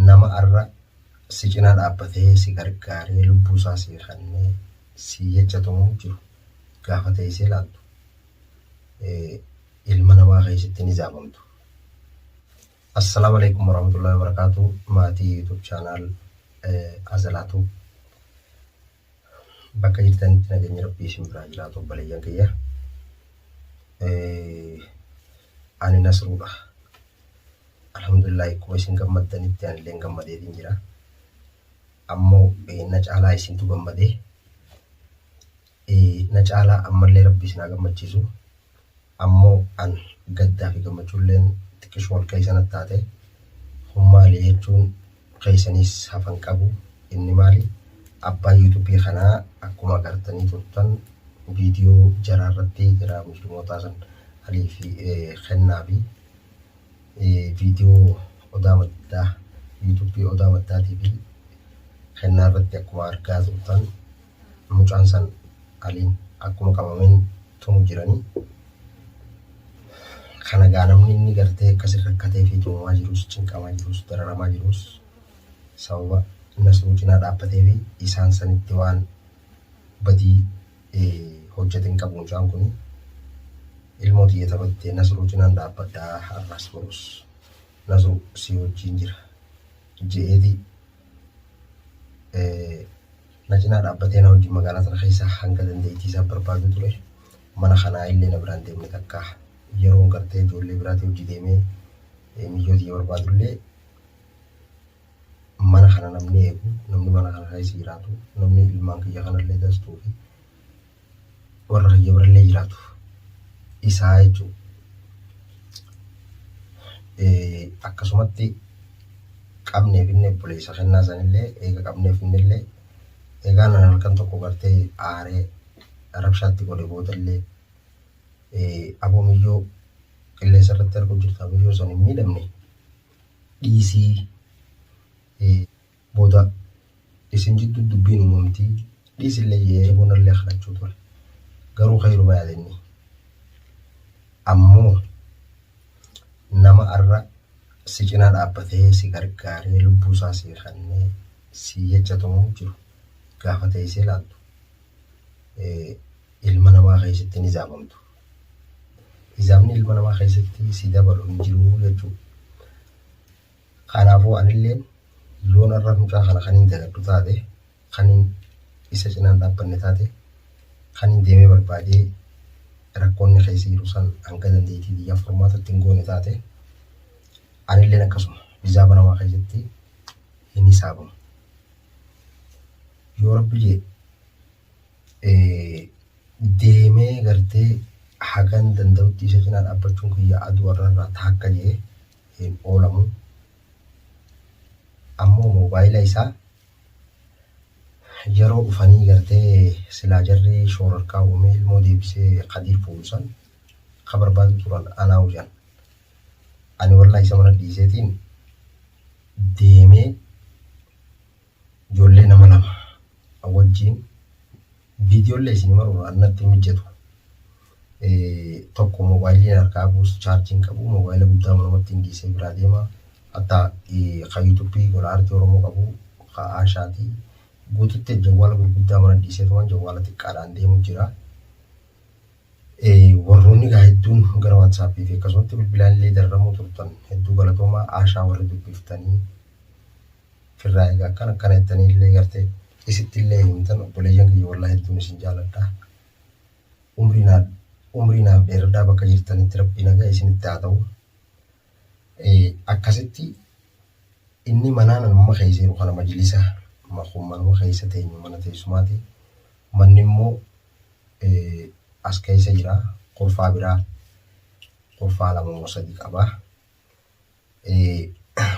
nama arra si cinaa dhaabbatee si gargaaree lubbuu isaa si kennee si jecha tumuun jiru gaafa teessee ilaaltu ilma namaa keessatti ni zaabamtu. Assalaamu alaikum warahmatullahi wabarakatuh maatii YouTube channel Azalaatu. Bakka jirtanitti nageenyi rabbii isin biraa jiraatu obboleeyyan kiyya. Ani nasruudha. Alhamdulillah akkuma isin gammaddanitti anillee gammadeetiin jira. Ammoo na caalaa isintu gammadee. Na caalaa ammallee rabbi isin haa gammachiisu. Ammo an gaddaafi gammachuulleen xiqqisho wal keessa natti taate. Kun maali jechuun keessaniis hafan qabu. Inni maali? Abbaa YouTube kanaa akkuma agartanii turtan video jaraa irratti jaraa muslimootaa san aliifi kennaafi video odaa maddaa YouTube odaa maddaatiifi kennaa irratti akkuma argaa turtan mucaan san aliin akkuma qabameen tumu jirani kana gaa namni inni gartee akkasi rakkatee fi tumamaa jirus cinqamaa jirus dararamaa jirus sababa nasruu cinaa dhaabbatee fi isaan sanitti waan badii hojjate hin qabu mucaan kun ilmoo tiyya taphattee nasruu cinaan dhaabbadhaa har'as borus nasru si wajjiin jira je'eeti Na cinaa dhaabbatee na wajjin magaalaa tana keessa hanga dandeettii isaa barbaaduu ture. Mana kanaa illee na biraan deemne takka. Yeroon gartee ijoollee biraatii hojji deemee miyyoo tiyya barbaadu illee mana kana namni eegu, namni mana kana keessa jiraatu, namni ilmaan kiyya kana illee dastuu fi warra rayya birallee jiraatu isaa jechuu akkasumatti qabnee finne obboleessa kennaa sanillee eega qabnee finnellee egaa nan halkan tokko gartee aaree rabshaatti godhe boodallee aboo miyyoo qilleensa irratti arguu jirta miyyoo san hin miidhamne dhiisii Booda isin jidduu dubbiin uumamti, dhiisillee jedhee bonallee kadhachuu ture. Garuu khayruma yaade inni. Ammoo nama arra si cinaa dhaabbatee si gargaaree lubbuu isaa sii kennee sii jecha tumuu jiru gaafa teessee laaltu ilma namaa keessatti hin hisaabamtu. Hisaabni ilma namaa keessatti si dabalu hin jiru jechuudha. Kanaafuu anilleen yoon har'a mucaa kana kaniin jaladhu taate, kaniin isa cinaan dhaabbanne taate, kaniin deemee barbaadee rakkoo inni keessa jiru san hanga dandeettii kiyyaa furmaata itti hin goone taate, anilleen akkasuma hisaaba namaa keessatti hin hisaabamu. Yoo rabbi jee eh, deemee gartee hagan danda'utti isa cinaa dhaabbachuun kiyya aduu har'a irraa taakka jee hin oolamu. Ammoo moobaayila isaa yeroo dhufanii gartee silaa jarri shoorarkaa uumee ilmoo deebisee Kadiir fuudhu san ka barbaadu turan anaa hujan. Ani wallahi isa mana dhiiseetiin deemee ijoollee nama lama wajjiin Viidiyoolle isin maruu an natti hin mijjatu. Tokko moobaayilii harkaa qabuus chaarjii hin qabu. Moobaayila guddaa manumatti hin dhiisee biraa deema. Hatta ka yuutuubii gola aartii Oromoo qabu ka Aashaati. Guututti jawwaala gurguddaa mana dhiiseetumaan jawwaala xiqqaadhaan deemu jira. Warroonni gaa hedduun gara waatsaappii fi akkasumatti bilbilaan illee darramuu turtan hedduu galatoomaa Aashaa warri dubbiftanii. firraa egaa akkana akkana jettanii illee gartee isitti illee himtan obboleeyyan kiyya wallaa hedduun isin jaaladha. Umrii naaf umrii naaf dheeradhaa bakka jirtanitti rabbii nagaa isinitti haa ta'u. Akkasitti inni manaan amma keessa jiru kana majlisa kun manuma keessa teenyu mana teessumaati. Manni immoo as keessa jira kurfaa biraa kurfaa lama moo sadii qaba.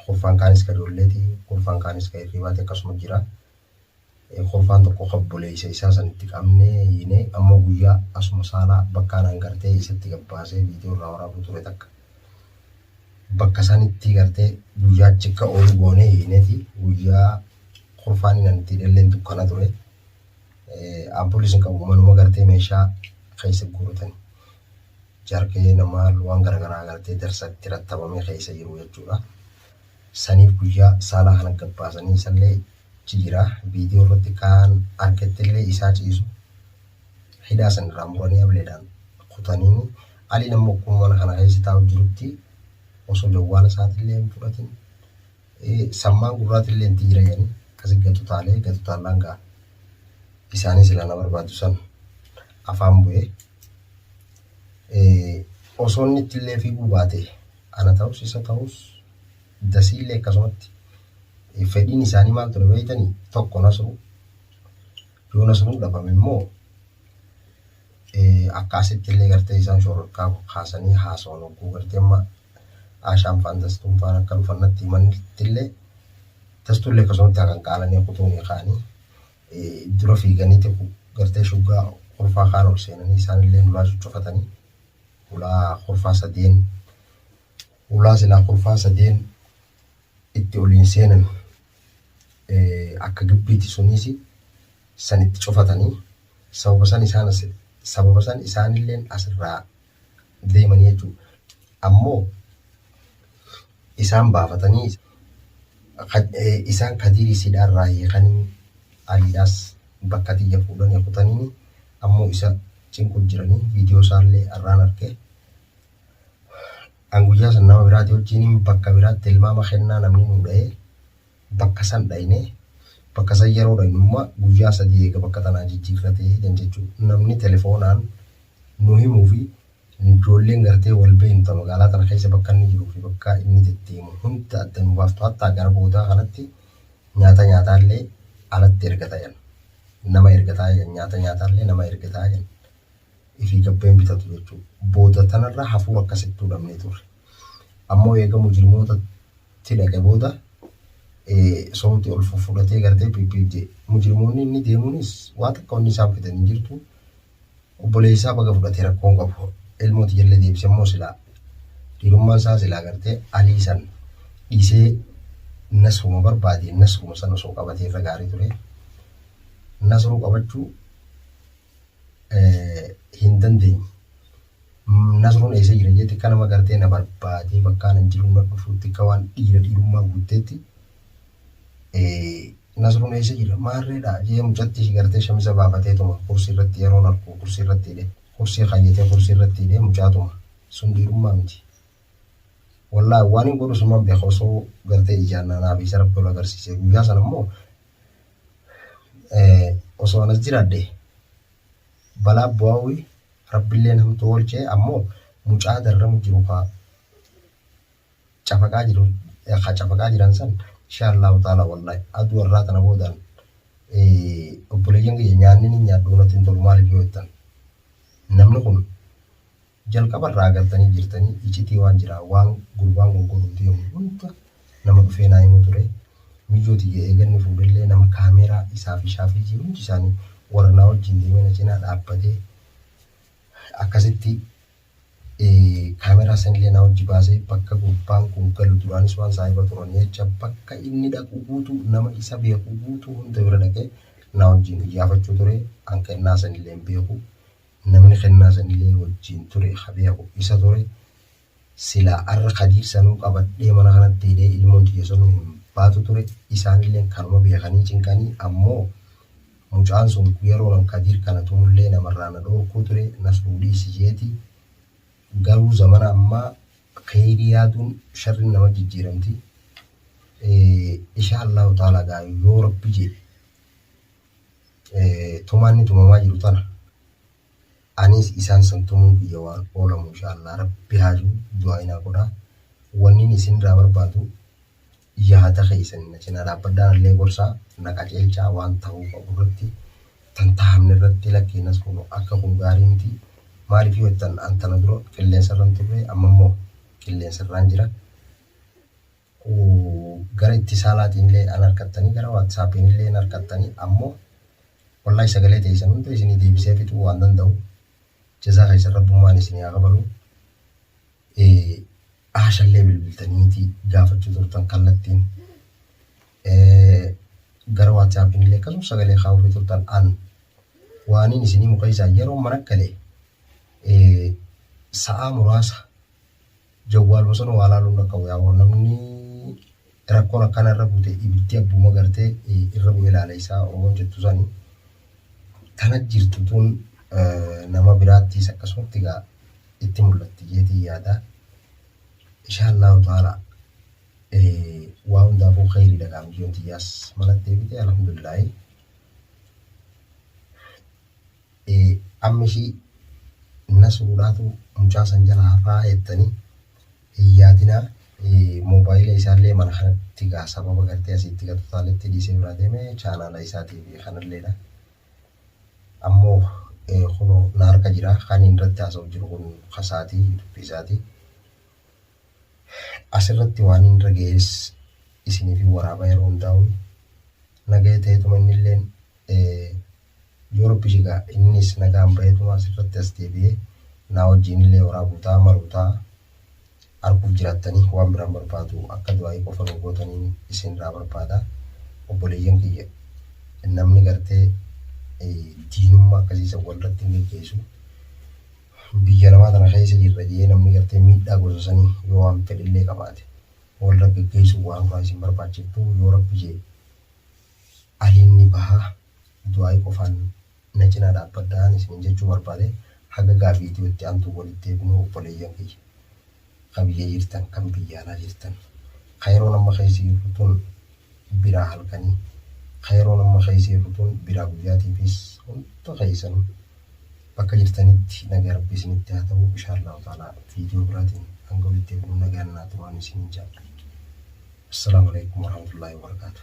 kurfaan kaanis ka ijoolleeti, kurfaan kaanis ka hirribaati akkasuma jira. Kurfaan tokko ka obboleessa isaa sanitti qabnee hiinee ammoo guyyaa asuma saalaa bakka anaan gartee isatti gabbaasee viidiyoo irraa waraabuu ture takka. Bakka sanitti gartee guyyaa achi akka oolu goonee hiineeti guyyaa kurfaan inni itti hidhalleen dukkana ture. Ampulii isin qabu manuma gartee meeshaa keessa guuratani. jargayena maal waan garagaraa agartee darsa itti rattabamee keessa jiru jechuudha. Saniif guyyaa saalaa kana gabbaasanii isallee jijira viidiyoo irratti kaan argettillee isaa ciisu hidhaa san irraa muranii ableedhaan kutaniini aliin ammoo akkuma mana kana keessa taa'u jirutti osoo jawwaala isaatillee hin fudhatin Sammaan gurraatillee hin jira jedhanii akkasi gatu taalee gatu taallaan gaa isaanii silaa na barbaadu san afaan bu'ee osoo inni ittillee fiiguu baate ana ta'us isa ta'us dasiillee akkasumatti fedhiin isaanii maal ture beeytanii tokko nasruu yoo nasruu dhabame immoo akka asittillee gartee isaan shororkaa kaasanii haasawan hogguu gartee amma Aashaan faan Dastuun faan akka dhufan natti himanittillee Dastuullee akkasumatti hakan qaalanii kutuunii kaanii dura fiiganii xiqqu gartee shuggaa kurfaa kaan ol seenanii isaanillee nulaa cuccufatanii hulaa kurfaa sadeen hulaa silaa kurfaa sadeen itti oliin seenan akka gibbiiti suniisi san itti cufatanii sababa san isaan sababa san isaanilleen asirraa deemanii jechuudha. Ammoo isaan baafatanii isaan kadiirii sidhaa irraa hiikanii aliidhaas bakka tiyya fuudhanii kutaniini ammoo isa cinqu jiranii viidiyoo isaallee arraan arge. An guyyaa san nama biraatii wajjiniin bakka biraatti tilmaama kennaa namni nu dha'ee bakka san dhayne, bakka san yeroo dhaynu imma guyyaa sadii eega bakka tanaa jijjiirrate jan jechu. Namni telefoonaan nu himuu fi ijoolleen gartee wal beeynu ta magaalaa tana keessa bakka inni jiruu fi bakka inni deddeemu hunda adda nu baaftu hattaa gara boodaa kanatti nyaata nyaataallee alatti ergata jan. Nama ergataa jan nyaata nyaataallee nama ergataa jan. Ifii gabbeen bitatu jechu. Booda tanarra hafuura akkasittuu dhabnee turre. Ammoo eega mujrimoota tti dhaqe booda soomti ol fuffudhatee gartee piippiif jee mujrimoonni inni deemuunis waa takka wanni isaan fidan hin jirtu obboleessaa baga fudhate rakkoon qabu ilmooti jallee deebise immoo silaa dhiirummaan isaa silaa gartee alii san dhiisee nasruma barbaade nasruma san osoo qabatee irra gaarii ture nasruu qabachuu hin dandeenye Nasruun eessa jira jee xiqqa nama gartee na barbaadee bakka anan jiru na dhufu xiqqa waan dhiira dhiirummaa guutteetti Nasruun eessa jira maarreedha jee mucatti gartee shamisa baafateetuma kursii irratti yeroon arku kursii irratti hidhe kursii kaayyatee kursii irratti hidhe mucaatuma sun dhiirummaa miti. Wallaahi waan hin godhu sumaan beeka osoo gartee ijaan naanaa fi isa rabbi ol agarsiise guyyaa sana immoo osoo anas jiraadhe Balaa buaui rabbilleen hamtuu olchee ammo mucaa darramu jiru kaa cafaqaa jiru kaa cafaqaa jiran san inshaa Allahu ta'ala wallahi aduu arraa tana boodaan obboleeyyan kiyya nyaanni ni nyaadhu natti hin tolu maaliif yoo jettan namni kun Jalqaba irraa agartanii jirtanii icitii waan jiraa waan gurbaan koo godhuu deemu hunda nama dhufee naa himu ture miyyoo tiyya eeganni fuudhellee nama kaameeraa isaa fi shaafiyyii hundi isaanii warra naa wajjiin deemee na cinaa dhaabbatee akkasitti kaameeraa sanillee naa wajji baasee bakka gurbaan kun galu duraanis waan saahiba turanii jecha bakka inni dhaqu guutu nama isa beeku guutu hunda bira dhaqee naa wajjiin iyyaafachuu ture hanqannaa sanillee hin beeku Namni kennaa sanilee wajjiin ture ka beeku isa ture. Silaa arra kadiir sanuu qabadhee mana kanatti hidhee ilmoon tiyya sanuu hin baatu ture. Isaanilleen kanuma beekanii cinqanii ammoo mucaan sun yeroo an kadiir kana tumullee namarraa na dhoorkuu ture nas fuudhiisi jeeti. Garuu zamana ammaa keyrii yaaduun sharrin nama jijjiiramti. Ishaa Allaahu ta'aalaa gaa yoo rabbi je'e. tumaa inni tumamaa jiru tana aniis isaan san tumuu kiyya waan oolamu inshaallah rabbi haaju du'aayinaa godha wannin isin irraa barbaadu yaada keessan na cinaa dhaabbadhaan illee gorsaa na qaceelchaa waan ta'uu qabu irratti tan tahamne irratti lakkeennas kun akka kun gaarii miti maaliif yoo jettan an tana dura qilleensa irran turre amma immoo qilleensa irraan jira u gara ittisaalaatinlee an arkattanii gara whatsappiinillee hin arkattanii ammo wallahi sagalee teeysan hunda isinii deebisee fixuu waan danda'u jazaa keessan rabbummaan isinii haa kafalu aashallee bilbiltaniiti gaafachuu turtan kallattiin gara whatsappiinillee akkasum sagalee kaa'uufii turtan an waaniin isinii mukeeysaan yeroo mana galee sa'aa muraasa Jawwaar bosona waa laaluu hin dhaqqabu yaa boo namni rakkoon akkana irra bute ibiddi abbuma garte irra bu'ee laala isaa oromoon jettu sani tana jirtu tun nama biraattis akkasumatti gaa itti mul'atti jeetii yaada inshaa Allahu ta'ala waa hundaafuu khayrii dhagaa mijoon tiyyaas manatti deebite alhamdulillaahi Amma ishii Nasruudhaatu mucaa san jala hafaa jettanii hin yaadinaa. Moobaayila isaallee mana kanatti gaa sababa gartee asii itti gatu taaletti dhiisee biraa deeme chaanaala isaatiif kanalleedha. Ammoo kunoo na harka jira kan inni irratti haasa'u jiru kun kasaatii dubbii isaatii. Asirratti waan inni irra ga'es isiniif hin waraaba yeroo hundaa'u. Nagaya ta'eetuma innilleen Yoo Rabbi je gaa innis nagaan baheetuma asirratti as deebi'ee naa wajjiinillee waraabuu ta'a maruu ta'a. Arguuf jiraattanii waan biraan barbaadu akka du'aa'ii qofa nuu gootaniin isinirraa barbaada. Obboleeyyan kiyya namni gartee diinummaa akkasii san walirratti hin geggeessu. Biyya namaa tana keessa jirra jee namni gartee miidhaa gosa sanii yoo waan fedhellee qabaate walirra geggeessuun waan biraa isin barbaachiftuu yoo Rabbi je Aliin ni baha du'aayi qofaan na cinaa dhaabbadhaan isinin jechuu barbaade haga gaa video itti aantuun walitti deebinuu obboleeyyan kiyya ka biyya jirtan kan biyya alaa jirtan ka yeroon amma keessa jirru tun biraa halkanii ka yeroon amma keessa jirru tun biraa guyyaatiifis hunda keessanu bakka jirtanitti nagaa rabbi isinitti haa ta'uu ishaallahu ta'ala video biraatiin hanga walitti deebinuu nagaan naa turaan isinin jaadha Assalamu alaikum warahmatullahi wabarakatuh